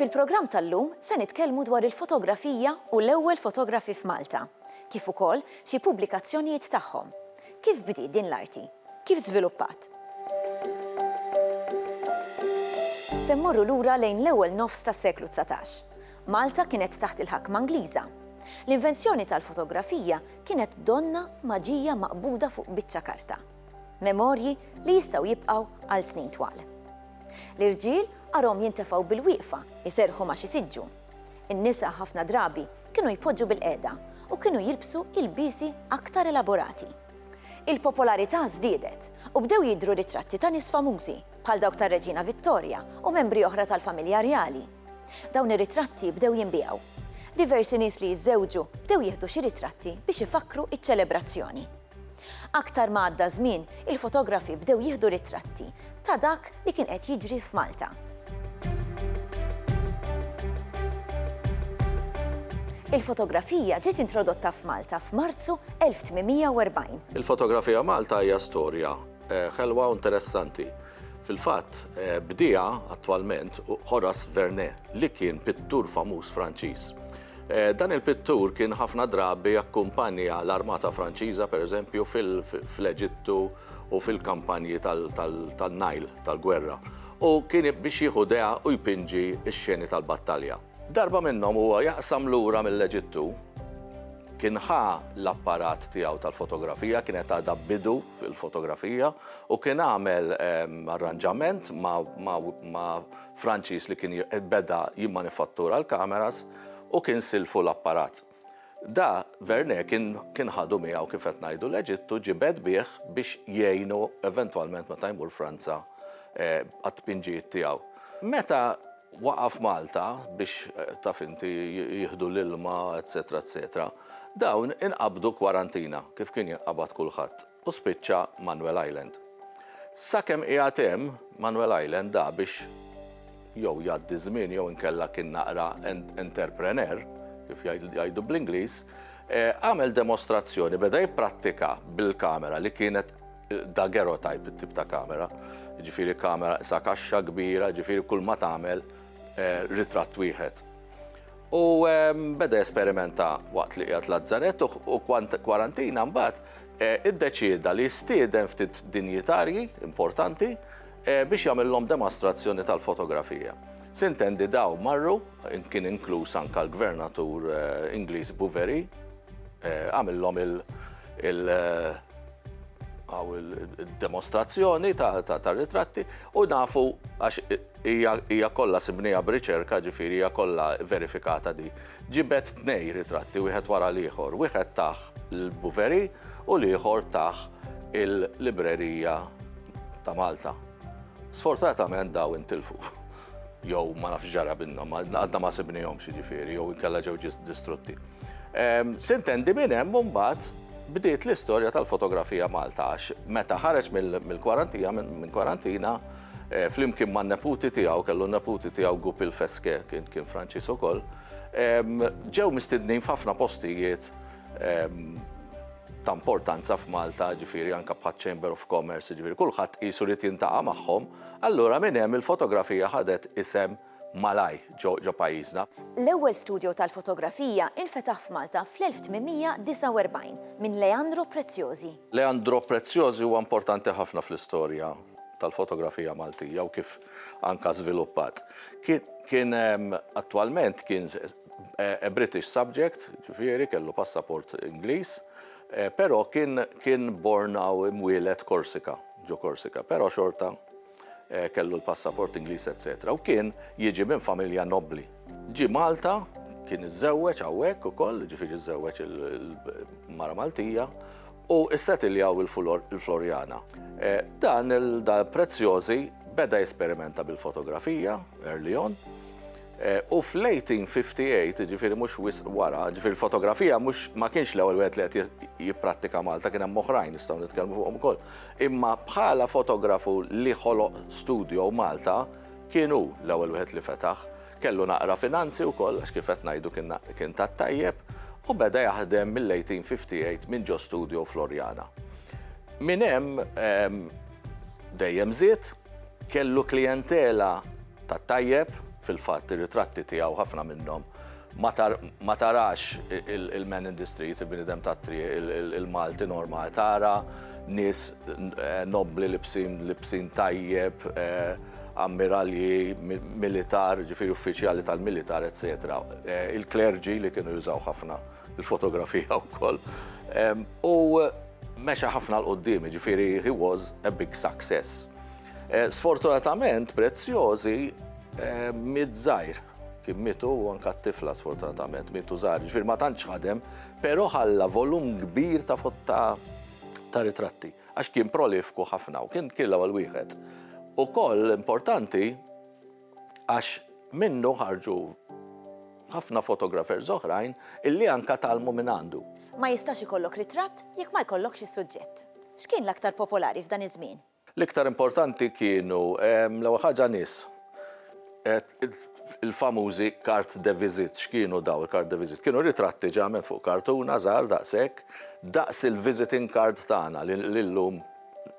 Fil-programm tal-lum se nitkellmu dwar il-fotografija u l-ewwel fotografi f'Malta, kif ukoll xi pubblikazzjonijiet tagħhom. Kif bdiet din l-arti? Kif żviluppat? Se mmorru lura lejn l-ewwel nofs tas-seklu 19. Malta kienet taħt il-ħakma Ingliża. L-invenzjoni tal-fotografija kienet donna maġija maqbuda fuq biċċa karta. Memorji li jistgħu jibqgħu għal snin twal. L-irġiel arhom jintefgħu bil-wieqfa, iserħu ma' xi siġġu. In-nisa ħafna drabi kienu jpoġġu bil-qiegħda u kienu jilbsu ilbiesi aktar elaborati. Il-popolarità żdiedet u bdew jidhru ritratti ta' nies famużi bħal dawk tar-Reġina Vittorja u membri oħra tal-familja rjali Dawn ir-ritratti bdew jinbiegħu. Diversi nies li jiżżewġu bdew jieħdu xi ritratti biex ifakkru iċ-ċelebrazzjoni. Aktar ma għadda żmien, il-fotografi bdew jieħdu ritratti ta' dak li kien qed jiġri f'Malta. Il-fotografija ġiet introdotta f'Malta f'Marzu 1840. Il-fotografija Malta hija storja eh, ħelwa u interessanti. Fil-fatt, bdiegħa attwalment hu Horace Vernet, li kien pittur famuż Franċiż. Dan il-pittur kien ħafna drabi akkumpanja l-armata Franċiża, pereżempju, fl-Eġittu u fil-kampanji tan-Nile tal-gwerra, u kien biex jieħu dea u jpinġi x-xeni tal-battalja. Darba minnhom huwa jaqsam lura mill-Eġittu, kien ħa l-apparat tiegħu tal-fotografija, kienet għadha b'bidu fil-fotografija, u kien għamel arranġament ma' Franċiż li kien beda jimmanifattura l-kameras u kien silfu l-apparat. Da, Vernet kien kien ħadu miegħu kif qed ngħidu l-Eġittu, ġibed bih biex jgħinu eventwalment meta jmur Franza għat-tpinġijiet tiegħu. Meta waqa' f'Malta biex, taf inti, jieħdu l-ilma, etsetera, etsetera, dawn inqabdu kwarantina kif kien jinqabad kulħadd. u spiċċa Manuel Island. Sakemm qiegħed hemm, Manuel Island da biex jew jgħaddi żmien jew inkella kien naqra entrepreneur, kif jgħidu bl-Ingliż, eh, għamel demostrazzjoni, beda jipprattika bil-kamera li kienet eh, daguerreotype it-tip ta' kamera, ġifiri kamera sa kaxxa kbira, ġifiri kull ma tagħmel eh, ritratt wieħed. U beda jesperimenta waqt li qiegħed Lazzarett u kwarantina mbagħad e, iddeċieda li jistieden ftit dinjitarji importanti e, biex jagħmilhom demonstrazzjoni tal-fotografija. Sintendi daw marru, kien inkluż anka l-gvernatur e, Ingliż Buveri, għamillhom il- għaw il-demonstrazzjoni ta' ritratti u nafu għax Hija, hija kollha sibniha b'riċerka, ġifieri hija kollha verifikata di. Ġibed tnej ritratti wieħed wara l-ieħor. Wieħed tah l-Bouverie u l-ieħor tah il-Librerija ta' Malta. Sfortunatament daw intilfu. Jew ma nafx ġara minnhom, għadna ma sibnihomx jiġifieri, jew inkella ġew distrutti. Ehm, sintendi minn hemm mbagħad bdiet l-istorja tal-fotografija Malta għax meta ħareġ mill-kwarantija, minn kwarantina, flimkien man-neputi tiegħu, kellu neputi tiegħu Goupil Fesque, kien Franċiż ukoll, ġew mistednin f'ħafna postijiet ta' importanza f'Malta, ġifieri anke bħaċ-Chamber of Commerce, ġifieri kulħadd qisu li tintaqa' magħhom, allura minn hemm il-fotografija ħadet isem malajr ġo pajjiżna. L-ewwel studjo tal-fotografija infetaħ f'Malta fl-1849 minn Leandro Preziosi. Leandro Preziosi huwa importanti ħafna fl-istorja tal-fotografija Maltija u kif anka żviluppat. Kien attwalment kien a British subject, ġifieri kellu passaport Ingliż, però kien born hawn imwieled Korsika, ġo Korsika, però xorta kellu l-passaport Ingliż eċċetera u kien jiġi minn familja nobbli. Ġie Malta, kien iżżewweġ hawnhekk ukoll, jiġifieri żżewweġ il-mara Maltija u ssetiljaw il-Floriana. Dan il-Prezzjożi beda jesperimenta bil-fotografija early on. U fl-1858, jiġifieri mhux wisq wara, jiġifieri l-fotografija mhux ma kienx l-ewwel wieħed li qed jipprattika Malta, kien hemm oħrajn nistgħu nitkellmu fuqhom ukoll. Imma bħala fotografu li ħoloq studio Malta, kien hu l-ewwel wieħed li fetaħ. Kellu naqra finanzi wkoll għax kif qed ngħidu kien tat-tajjeb u beda jaħdem mill-1858 minn ġo studio fl-Orjana. Minn hemm dejjem żied, kellu klijentela tat-tajjeb, fil-fatt ir-ritratti tiegħu ħafna minnhom ma tarax il-man in the street, il-bniedem tat-triq, il-Malti normali, tara nies eh, nobbli libsin libsin tajjeb, eh, ammiralji, militar, ġifiri uffiċjali tal-militar, etc. Eh, il-klerġi li kienu jużaw ħafna il-fotografija u koll. U meċa ħafna l-qoddim, ġifiri he was a big success. Sfortunatament, Prezzjożi miet żgħir. Kien mietu u anka t-tifla sfortunatament mietu żgħar. Ġifier ma tantx ħadem, però ħalla volum kbir ta' ta' ritratti għax kien prolifku ħafna u kien kien l-ewwel wieħed. Ukoll importanti għax minnu ħarġu ħafna fotografers oħrajn illi anka talmu minn għandu. Ma jistax ikollok ritratt jekk ma jkollokx is-suġġett. X'kien l-aktar popolari f'dan iż-żmien? L-iktar importanti kienu, l-ewwel ħaġa nies. Il-famużi carte de visite. X'kienu dawn il-carte de visite? Kienu ritratti ġeneralment fuq kartuna żgħar daqshekk, daqs il-visiting card tagħna li llum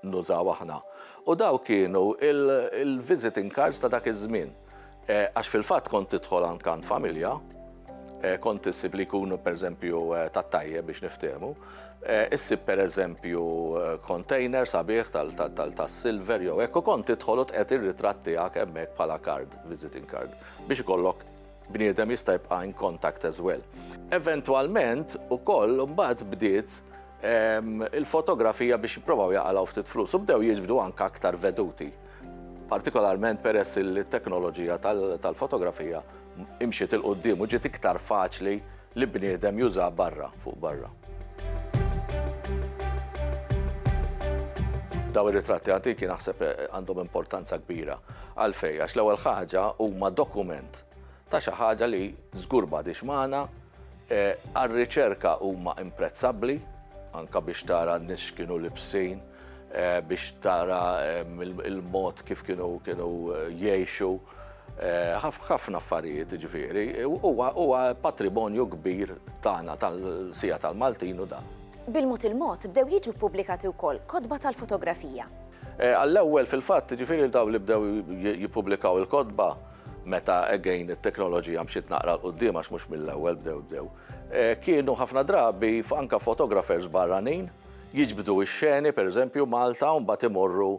nużaw aħna. U dawn kienu l-visiting cards ta' dak iż-żmien. Għax fil-fatt kont tidħol għand kant familja, kont issib li jkunu pereżempju tat-tajjeb biex niftiehmu, issib pereżempju container sabiħ tas-silver jew hekk u kont tidħol u tqegħed ir-ritratt tiegħek hemmhekk bħala card, visiting card, biex ikollok bniedem jista' jibqa' in contact as well. Eventwalment ukoll imbagħad bdiet il-fotografija biex jipprovaw jaqalgħu ftit flus u bdew jiġbdu anke aktar veduti. partikolarment peress li t-teknoloġija tal-fotografija imxiet 'il quddiem u ġiet iktar faċli li bniedem juża barra fuq barra. Dawn ir-ritratti antiki naħseb għandhom importanza kbira. Għalfejn? Għax l-ewwel ħaġa huma dokument ta' xi ħaġa li żgur m'għadhiex magħna, għar-riċerka huma imprezzabbli, anke biex tara n-nies x'kienu libsin, biex tara l-mod kif kienu kienu jgħixu, ħafna affarijiet jiġifieri. Huwa huwa patrimonju kbir tagħna tal-Sija tal-Maltin hu dan. Bil-mod il-mod bdew jiġu ppubblikati wkoll kotba tal-fotografija. Għall-ewwel fil-fatt jiġifieri dawn li bdew jippubblikaw il-kotba, meta again it-teknoloġija mxiet naqra l quddiem għax mhux mill-ewwel bdew bdew. Eh, kienu ħafna drabi anka fotografers barranin jiġbdu x-xeni pereżempju Malta u mbagħad imorru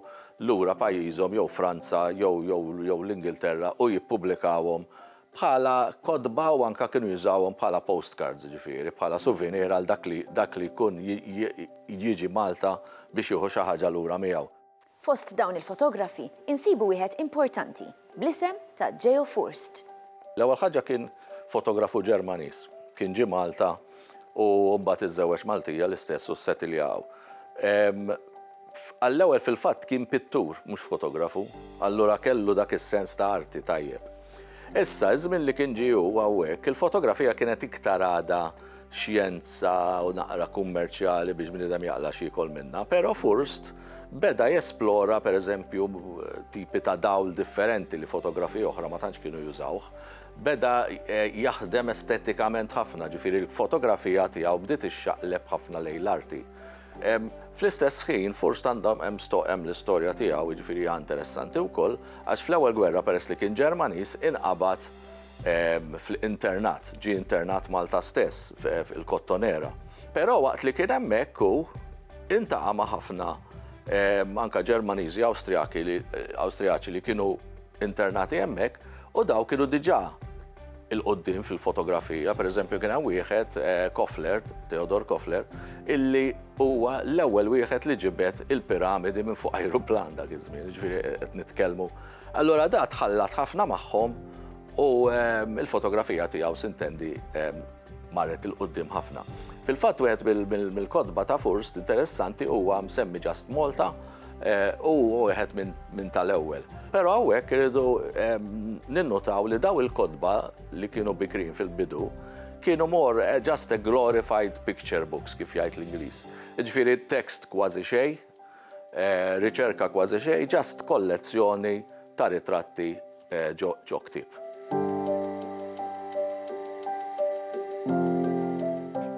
lura pajjiżhom jew Franza jew jew jew l-Ingilterra u jippubblikawhom bħala kodba u anka kienu jużawhom bħala postcards ġifieri, bħala souvenir għal dak li dak li jkun jiġi Malta biex jieħu xi ħaġa lura miegħu. Fost dawn il-fotografi insibu wieħed importanti bl-isem ta' Geo Furst. L-ewwel ħaġa kien fotografu Ġermaniż. Kien ġie Malta u mbagħad iżżewweġ Maltija l-istess u ssetilja hawn. Għall-ewwel fil-fatt kien pittur mhux fotografu, allura kellu dak is-sens ta' arti tajjeb. Issa, iż-żmien li kien ġie hu hawnhekk, il-fotografija kienet iktar għadha xjenza u naqra kummerċjali biex bniedem jaqla xi jkol minna, però Furst beda jesplora pereżempju tipi ta' dawl differenti li fotografi oħra ma tantx kienu jużawh. Beda eh, jaħdem estetikament ħafna, ġifieri l-fotografija tiegħu bdiet ixxaqleb ħafna lejn l-arti. Fl-istess ħin, Furst għandhom hemm l-istorja tiegħu, jiġifieri interessanti wkoll, għax fl-ewwel gwerra peress li kien Ġermaniż inqabad fl-internat, ġie internat Malta stess, fil-Kottonera. Però waqt li kien hemmhekk hu intaqa' ma' ħafna anka Ġermaniżi, Awstrijaki, Awstrijaċi li kienu internati hemmhekk u daw kienu diġà il-qoddim fil-fotografija, pereżempju kien hemm wieħed Kofler, Theodor Kofler, illi huwa l-ewwel wieħed li ġibed il-piramidi minn fuq ajruplan dak iż-żmien, jiġifieri qed nitkellmu Allura da tħallat ħafna magħhom u l-fotografija tiegħu sintendi marret 'il quddiem ħafna. Fil-fatt wieħed mill-kotba ta' Furst interessanti huwa msemmi Just Malta u wieħed minn tal-ewwel. Però hawnhekk irridu ninnutaw li dawn il-kotba li kienu bikrin fil-bidu kienu more just a glorified picture books kif jgħid l-Ingliż. Jiġifieri text kważi xejn, Riċerka kważi xejn, just kollezzjoni ta' ritratti ġo ktieb.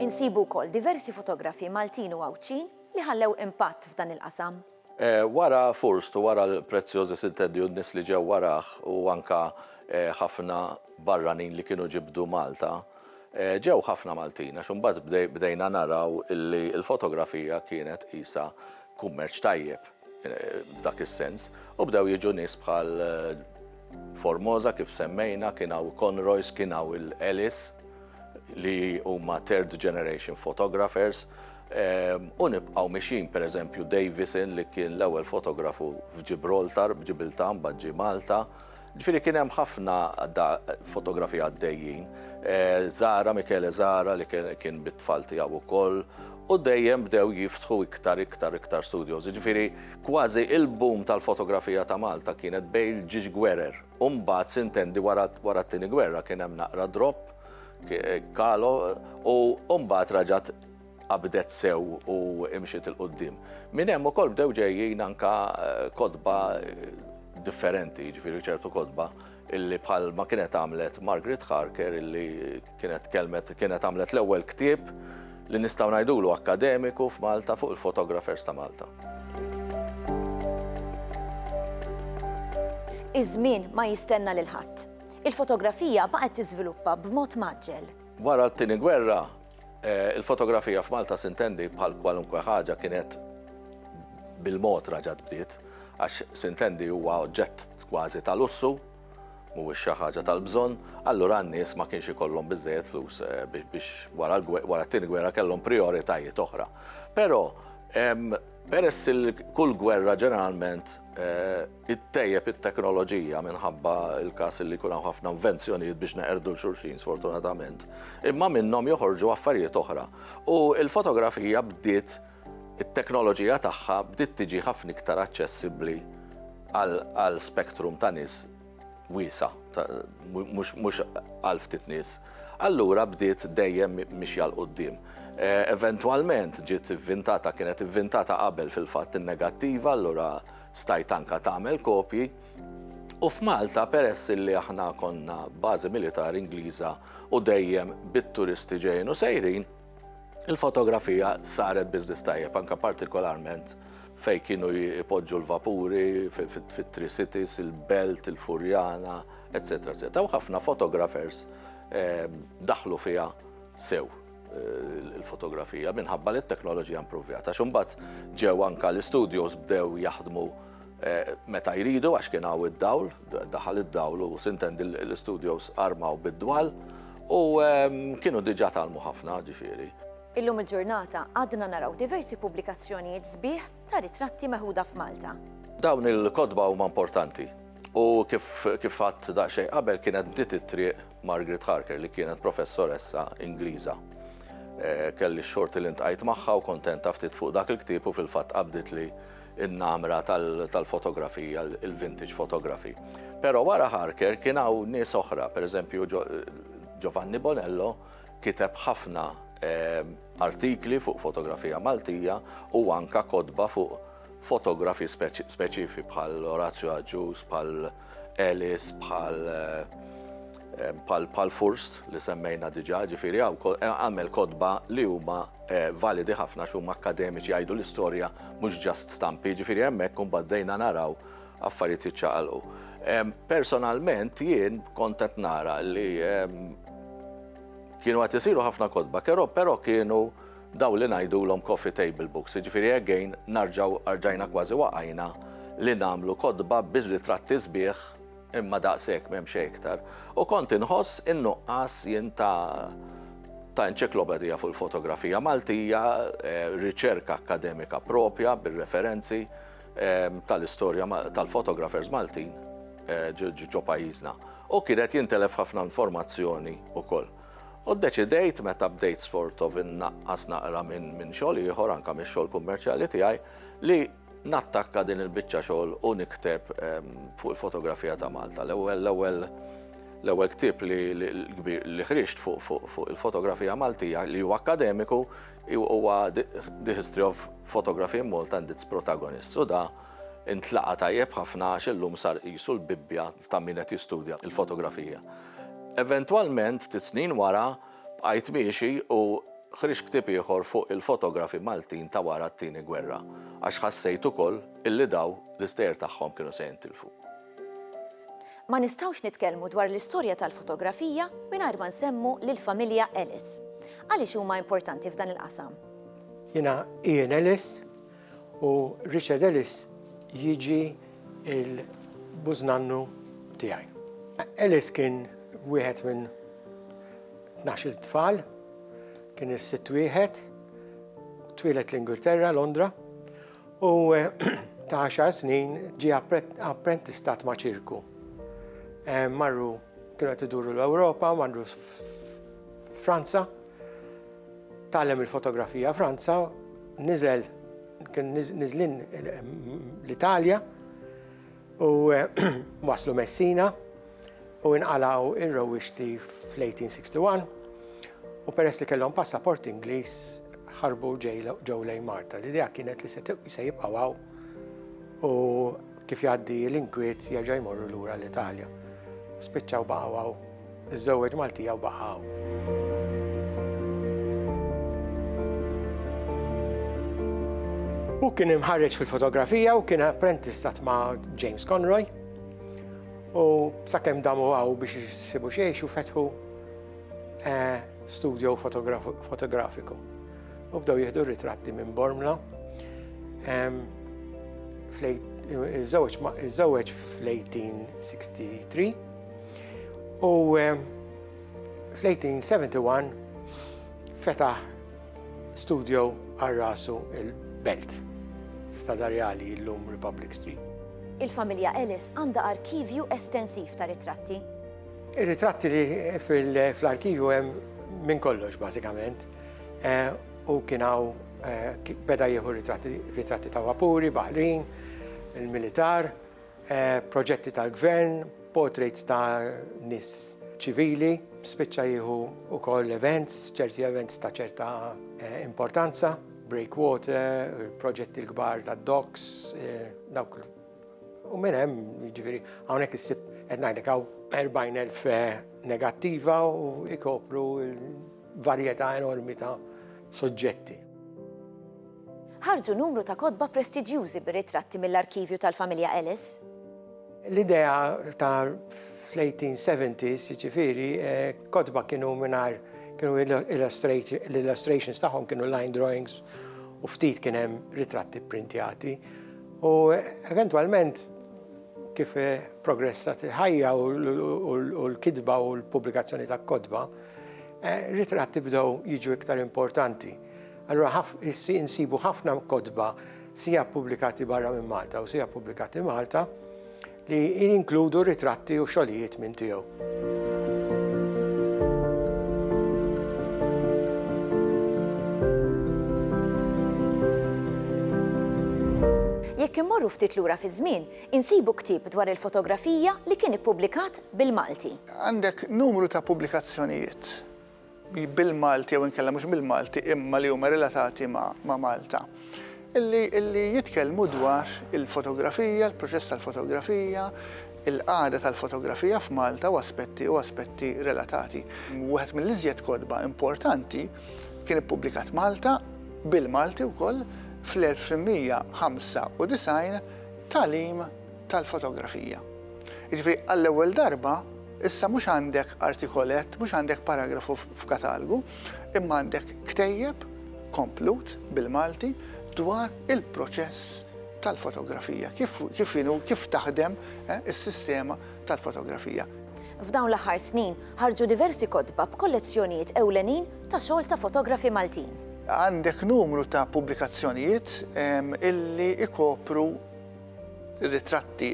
Insibu wkoll diversi fotografi Maltin u Għawdxin li ħallew impatt f'dan il-qasam. Wara Fürst u wara l-Preziosi Sintendi u n-nies li ġew warah u anke ħafna barranin li kienu ġibdu Malta, Ġew ħafna Maltin għax imbagħad bdejna naraw illi l-fotografija kienet qisha kummerċ tajjeb f'dak is-sens u bdew jiġu nies bħal Formosa kif semmejna, kien hawn Conroys, kien hawn il-Ellis li huma third generation photographers u nibqgħu mixjin pereżempju Davison li kien l-ewwel fotografu f'Ġibroltar, Ġibiltà mbagħad ġie Malta, Ġifieri kien hemm ħafna fotografiji għaddejjin. Zahra, Michele Zahra li kien bit-tfal tiegħu wkoll u dejjem bdew jiftħu iktar iktar iktar studios. Ġifieri kważi il-boom tal-fotografija ta' Malta kienet bejn il-ġiex gwerer u mbagħad sintendi wara t-Tieni Gwerra kien hemm naqra drop, calo u mbagħad raġgħet qabdet sew u imxiet 'il quddiem. Minn hemm ukoll bdew ġejjin anke kotba differenti, jiġifieri ċertu kotba illi bħal ma kienet għamlet Margaret Harker illi kienet tkellmet kienet għamlet l-ewwel ktieb li nistgħu ngħidulu akkademiku f'Malta fuq il-photographers ta' Malta. Iż-żmien ma jistenna lil ħadd. Il-fotografija baqgħet tiżviluppa b'mod mgħaġġel. Wara t-Tieni Gwerra, Il-fotografija f'Malta s'intendi bħal kwalunkwe ħaġa kienet bil-mod raġgħet bdiet, għax s'intendi huwa oġġett kważi ta' lussu, mhuwiex xi ħaġa tal-bżonn, allura n-nies ma kienx ikollhom biżżejjed flus biex wara t-Tieni Gwerra kellhom prijoritajiet oħra. Però peress li kull gwerra ġeneralment, ittejjeb it-teknoloġija minħabba l-każ li jkun hawn ħafna invenzjonijiet biex neqerdu l xulxin sfortunatament, imma minnhom joħorġu affarijiet oħra. U l-fotografija bdiet it-teknoloġija tagħha bdiet tiġi ħafna iktar aċċessibbli għal spektrum ta' nies wiesa, mhux għal ftit nies. Allura bdiet dejjem mixja l qudiem eh, Eventwalment ġiet ivvintata, kienet ivvintata qabel fil-fatt in-negattiva, allura Stajt anke tagħmel kopji u f'Malta peress illi aħna konna bażi militari Ingliża u dejjem bit-turisti ġejjin u sejrin, il-fotografija saret business tajjeb anke partikolarment fejn kienu jpoġġu l-vapuri fit-Tri Cities, il-Belt, il-Furjana, etc. etc. U ħafna fotografers daħlu fiha sew. il-fotografija minħabba li t-teknoloġija impruvjata. Xumbat ġew anka l-studios bdew jaħdmu eh, meta jridu għax kien hawn id-dawl, daħal id-dawl u sintendi l-studios armaw bid-dwal u ehm, kienu diġa talmu ħafna ġifiri. Illum il-ġurnata għadna naraw diversi pubblikazzjonijiet sbieħ ta' ritratti meħuda f'Malta. Dawn il-kodba huma importanti U kif kif għadd daqsxejn qabel kienet bdiet it-triq Margaret Harker li kienet professoressa Ingliża. Eh, kelli x-xorti li ntqajt magħha u kontenta ftit fuq dak il-ktieb u fil-fatt qabdet li n-namra tal-fotografija, il-vintage fotografi. Pero wara Harker kien hawn nies oħra, per eżempju Giovanni Bonello kiteb ħafna eh, artikli fuq fotografija Maltija u anka kodba fuq fotografi speċifi bħal Orazio Agius, bħal Ellis, bħal bħal eh, eh, Furst li semmejna diġa, ġifiri għaw eh, għamel kodba li huma validi ħafna xum akademiċi għajdu l-istoria mux ġast stampi, ġifiri għemmek kun baddejna naraw affarijiet iċċaqalqu. Personalment jien kontet nara li kienu għat isiru ħafna kodba, pero kienu Dawn li ngħidulhom coffee table books, jiġifieri again narġgħu arġajna kważi waqajna li nagħmlu kotba bir-ritratti sbieħ imma daqs hekk m'hemm xejn iktar. U kont inħoss in-nuqqas jien ta' ta' enċiklopedija fuq il-fotografija Maltija, riċerka akkademika proprja bir-referenzi tal-istorja tal-photographers Maltin ġo pajjiżna. U kien qed jintelef ħafna informazzjoni wkoll. U ddeċidejt meta bdejt sort of innaqqas naqra minn xogħol ieħor, anke mix-xogħol kummerċjali tiegħi, li nattakka din il-biċċa xogħol u nikteb fuq il-fotografija ta' Malta. L-ewwel ktieb li ħriġt fuq il-fotografija Maltija li hu akkademiku huwa The History of Photography in Malta and Its Protagonists u da intlaqgħa tajjeb ħafna għax illum sar qisu l-bibbja ta' min qed jistudja l-fotografija. Eventwalment, ftit snin wara, bqajt miexi u ħriġt ktieb ieħor fuq il-fotografi Maltin ta' wara t-Tieni Gwerra, għax ħassejt ukoll illi daw l-istejjer tagħhom kienu se jintilfu. Ma nistgħux nitkellmu dwar l-istorja tal-fotografija mingħajr ma nsemmu lill-familja Ellis. Għaliex huma importanti f'dan il-qasam? Jiena Ian Ellis, U Richard Ellis jiġi il-bużnannu tiegħi. Ellis kien wieħed minn 12 tfal, kien is-sitt wieħed, twilet l-Ingilterra, Londra, u ta' 10 snin ġi apprentistat ma' ċirku. Eh, marru kienu qed iduru l-Ewropa, marru Franza, Tgħallem il-fotografija Franza, niżel kien niżlin l-Italja u waslu Messina u inqalaw ir-rewwixti fl-1861 u peress li kellhom passaport Ingliż ħarbu ġew lejn Malta. L-idea kienet li se jibqgħu hawn u kif jgħaddi l-inkwiet jerġa' jmorru lura l-Italja. Spiċċaw baqgħu Iżżewweġ Maltija u baqa' hawn. Hu kien imħarreġ fil-fotografija u kien apprentistat ma' James Conroy. U sakemm damu għaw biex jisibu xejx u fetħu eh, studio fotografiku. U bdew jihdu ritratti minn Bormla. Iż-żewġ fl-1863 U eh, fl-1871 fetaħ studio għal rasu il-Belt, stadarjali l-lum Republic Street. Il-familja Ellis għandha arkivju estensiv ta' ritratti. Ir-ritratti li fl-arkivju hemm minn kollox bażikament. Eh, u kien hawn eh, beda jieħu ritratti ta' vapuri, baħrin, il-militar, proġetti tal-gvern, portraits ta' nies ċivili, spiċċa jieħu wkoll events, ċerti events ta' ċerta importanza, breakwater, proġetti l-kbar ta' docks, dawk u minn hemm, jiġifieri hawnhekk issib qed ngħidlek hawn 40,000 negattiva u jkopru varjetà enormi ta' suġġetti. Ħarġu numru ta' kotba prestiġjużi bir-ritratti mill-arkivju tal-familja Ellis. L-idea ta' fl-1870s, jiġifieri, kotba kienu mingħajr kienu l-illustrations tagħhom kienu line drawings u ftit kien hemm ritratti pprintjati. U eventwalment kif progressat il-ħajja u l-kitba u l-pubblikazzjoni ta' kotba, ritratti bdew jiġu iktar importanti. Allura ħaf, is, insibu ħafna kotba sija ppubblikati barra minn Malta u sija ppubblikati Malta li jinkludu ritratti u xogħlijiet minn tiegħu. Jekk immorru ftit lura fi żmien, insibu ktieb dwar il-fotografija li kien ippubblikat bil-Malti. Għandek numru ta' pubblikazzjonijiet bil-Malti jew inkella mhux bil-Malti imma li huma relatati ma' Malta li jitkellmu dwar il-fotografija, il-proċess tal-fotografija, il-qagħda tal-fotografija f'Malta u aspetti u aspetti relatati. Wieħed mill-iżjed kotba importanti kien ippubblikat Malta bil-Malti wkoll fl-1995 Tagħlim tal-Fotografija. Jiġifieri għall-ewwel darba Issa mhux għandek artikolett, mhux għandek paragrafu f'katalgu, imma għandek ktejjeb komplut bil-Malti dwar il-proċess tal-fotografija, kif kif inhu kif taħdem eh, is-sistema tal-fotografija. F'dawn l-aħħar snin ħarġu diversi kotba b'kollezzjonijiet ewlenin ta' xogħol ta' fotografi Maltin. Għandek numru ta' pubblikazzjonijiet ehm, illi ikopru ritratti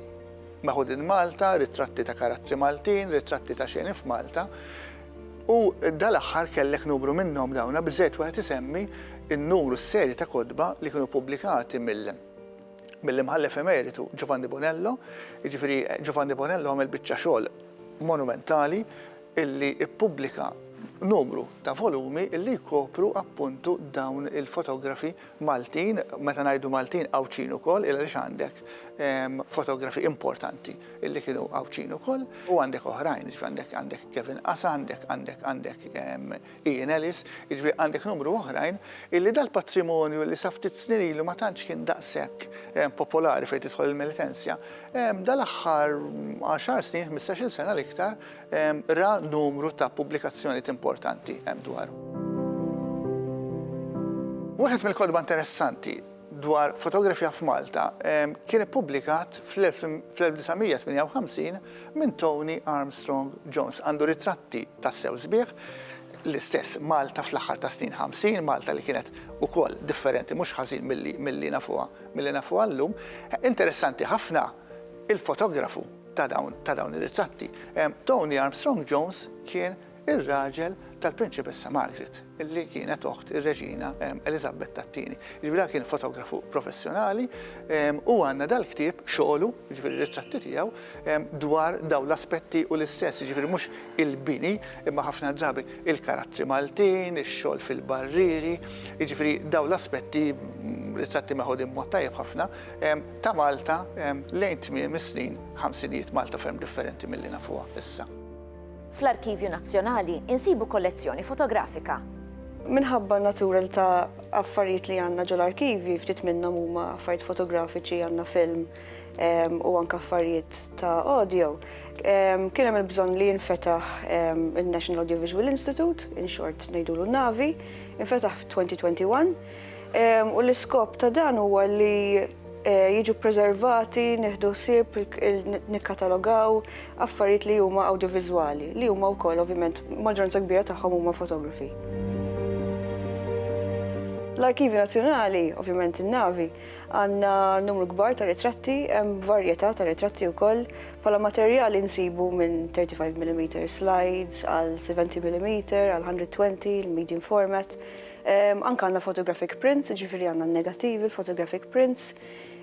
Meħudin Malta, Ritratti ta' karattri Maltin, Ritratti ta' xeni f'Malta, u dal-aħħar kellek numru minnhom dawna biżżejjed wieħed isemmi n-numru, s-serje ta' kotba li kienu ppubblikati mill-Imħallef Emeritu Giovanni Bonello, jiġifieri Giovanni Bonello għamel biċċa xogħol monumentali illi ppubblika numru ta' volumi illi jkopru appuntu dawn il-fotografi Maltin, meta ngħidu Maltin Għawdxin ukoll għaliex għandek fotografi importanti li kienu Għawdxin ukoll u għandek oħrajn, jiġifieri għandek Kevin Qasa, għandek għandek għandek Ian Ellis, jiġifieri għandek numru oħrajn illi dal-patrimonju li sa ftit snin ilu ma tantx kien daqshekk popolari fejn tidħol il-Melitensja, dal-aħħar għaxar snin, ħmistax-il sena l-iktar, Ra numru ta' pubblikazzjonijiet importanti hemm dwaru. Wieħed mill-kotba interessanti dwar fotografija f'Malta kien ippubblikat fl-1958 minn Tony Armstrong Jones. Għandu ritratti tassew sbieħ, l-istess Malta fl-aħħar tas-snin ħamsin, Malta li kienet ukoll differenti mhux ħażin milli nafuha llum. Interessanti ħafna il-fotografu. ta' dawn ta' dawn ir-ritratti. Tony Armstrong Jones kien ir-raġel tal-Prinċipessa Margaret, li kienet oħt ir-Reġina Eliżabet tat-Tieni. Jiġifieri dan kien fotografu professjonali u għandna dal-ktieb, xogħlu, jiġifieri r-ritratti tiegħu, dwar dawn l-aspetti u l-istess, jiġifieri mhux il-bini, imma ħafna drabi il-karattri Maltin, ix-xogħol fil-barrieri, jiġifieri dawn l-aspetti, ritratti meħudin b'mod tajjeb ħafna, ta' Malta lejn tmiem is-snin ħamsin ijiet Malta ferm differenti milli nafuha issa. Fl-Arkivju Nazzjonali insibu kollezzjoni fotografika. Minħabba n-natura ta' affarijiet li għandna ġol arkivji ftit minnhom huma affarijiet fotografiċi għandna film u anke affarijiet ta' audio. Kien hemm il-bżonn li jinfetaħ il-National Audiovisual Institute, in short ngħidulu Navi, infetaħ f'2021. U l-iskop ta' dan huwa li jiġu preservati, nieħdu ħsieb, nikkatalogaw affarijiet li huma awdjoviżwali, li huma wkoll ovvjament maġġoranza kbira tagħhom huma fotografi. L-Arkivju Nazzjonali, ovvjament in-navi, għandna numru kbar ta' ritratti, hemm varjetà ta' ritratti wkoll, bħala materjali nsibu minn 35 mm slides għal 70 mm għal 120 il-medium format, Anke għandna photographic prints, jiġifieri għandna n-negattivi, l-photographic prints.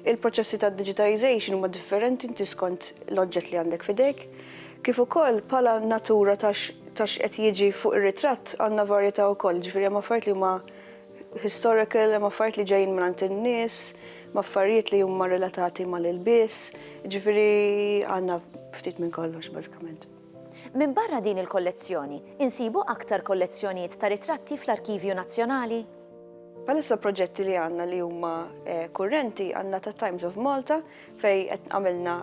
Il-proċessi tad-digitization huma differenti inti skont l-oġġett li għandek f'idejk. Kif ukoll bħala natura ta' x'qed jiġi fuq ir-ritratt għandna varjetà wkoll, jiġifieri hemm affarijiet li huma historical, hemm affarijiet li ġejjin mingħand in-nies, hemm affarijiet li huma relatati mal-ilbies, jiġifieri għandna ftit minn kollox bażikament. Minbarra din il-kollezzjoni, insibu aktar kollezzjonijiet ta' ritratti fl-Arkivju Nazzjonali. Bħalissa l-proġetti li għandna li huma kurrenti għandna ta' Times of Malta fejn qed għamilna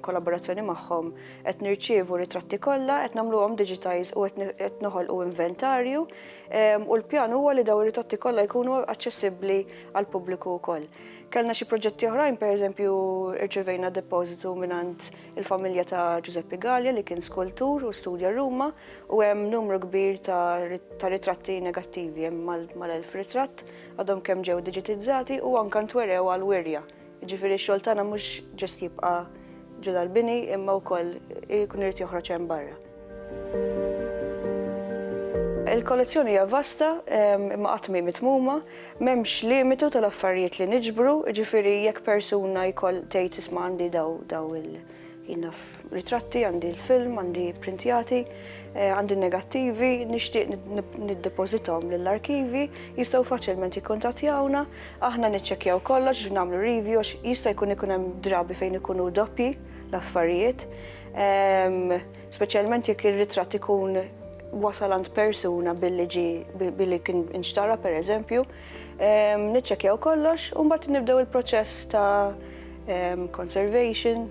kollaborazzjoni magħhom qed nirċievu ritratti kollha, qed nagħmluhom digitize u qed noħolqu inventarju u l-pjan huwa li dawn ir-ritratti kollha jkunu aċċessibbli għall-pubbliku wkoll. Kellna xi proġetti oħrajn, pereżempju rċevejna depożitu mingħand il-familja ta' Ġużeppi Galea li kien skultur u studja Ruma u hemm numru kbir ta' ritratti negattivi hemm mal-elf ritratt għadhom kemm ġew diġitizzati u anke ntwerew għal wirja. Jiġifieri x-xogħol tagħna mhux ġust jibqa' ġo dal-bini imma wkoll ikun irid joħroġ hemm barra. Il-kollezzjoni hija vasta, imma qatt mi mitmuma, m'hemmx limitu tal-affarijiet li niġbru, ġifieri jekk persuna jkoll tgħid isma' għandi daw daw il-jinaf ritratti, għandi l-film, għandi printjati, eh, għandi negattivi, nixtieq niddepożitom lill-arkivi, jistgħu faċilment jikkuntattjawna, aħna niċċekkjaw kollox, nagħmlu review, jista' jkun ikun hemm drabi fejn ikunu doppji l-affarijiet. Speċjalment jekk ir-ritratt ikun wasal għand persuna billi ġi billi kien inxtara per eżempju, niċċekjaw kollox u mbagħad nibdew il-proċess ta' conservation,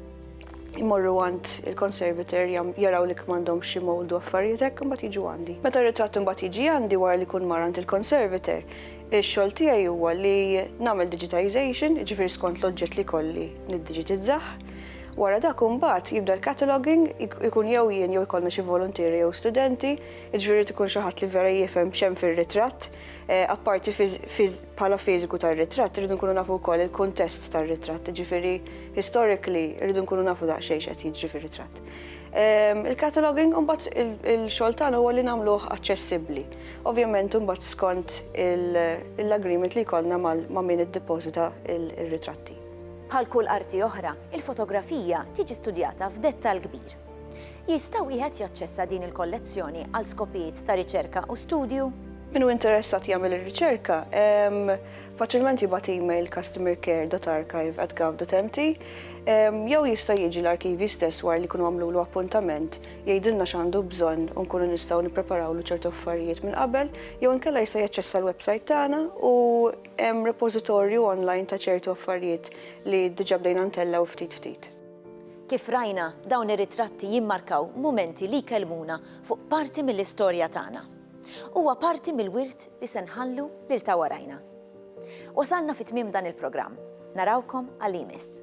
imorru għand il-conservator jaraw li kmandhom xi mold u affarijiet hekk imbagħad jiġu għandi. Meta r-ritratt imbagħad jiġi għandi wara li jkun mar għand il-conservator, ix-xogħol tiegħi huwa li nagħmel digitization, jiġifieri skont l-oġġett li kolli niddiġitizzah, Wara dak imbagħad jibda l-cataloguing, ikun jew jien jew ikollna xi voluntieri jew studenti, jiġifieri jrid ikun xi ħadd li vera jifhem x'hemm fir-ritratt, apparti bħala fiżiku tar-ritratt irridu nkunu nafu wkoll il-kuntest tar-ritratt, jiġifieri historically irridu nkunu nafu daqsxejn x'qed jiġri fir-ritratt. Il-cataloguing u mbagħad il-xogħol tagħna huwa li nagħmluh aċċessibbli. Ovvjament imbagħad skont l-agreement li jkollna ma' min iddepożita r-ritratti. Bħal kull arti oħra, il-fotografija tiġi studjata f'dettall kbir. Jista' wieħed jaċċessa din il-kollezzjoni għal skopijiet ta' riċerka u studju? Min hu interessat jagħmel ir-riċerka, faċilment jibgħat email customercare.archive@gov.mt jew jista' jiġi l-arkivji stess wara li jkunu għamlulu appuntament, jgħidilna x'għandu bżonn u nkunu nistgħu nippreparawlu ċertu affarijiet minn qabel, jew inkella jista' jaċċessa l-websajt tagħna u Hemm repożitorju online ta' ċertu affarijiet li diġà bdejna ntellgħu ftit ftit. Kif rajna, dawn ir-ritratti jimmarkaw mumenti li jkellmuna fuq parti mill-istorja tagħna. Huwa parti mill-wirt li se nħallu lil ta' warajna. Wasalna fi tmiem dan il-programm. Narawkom għal imiss.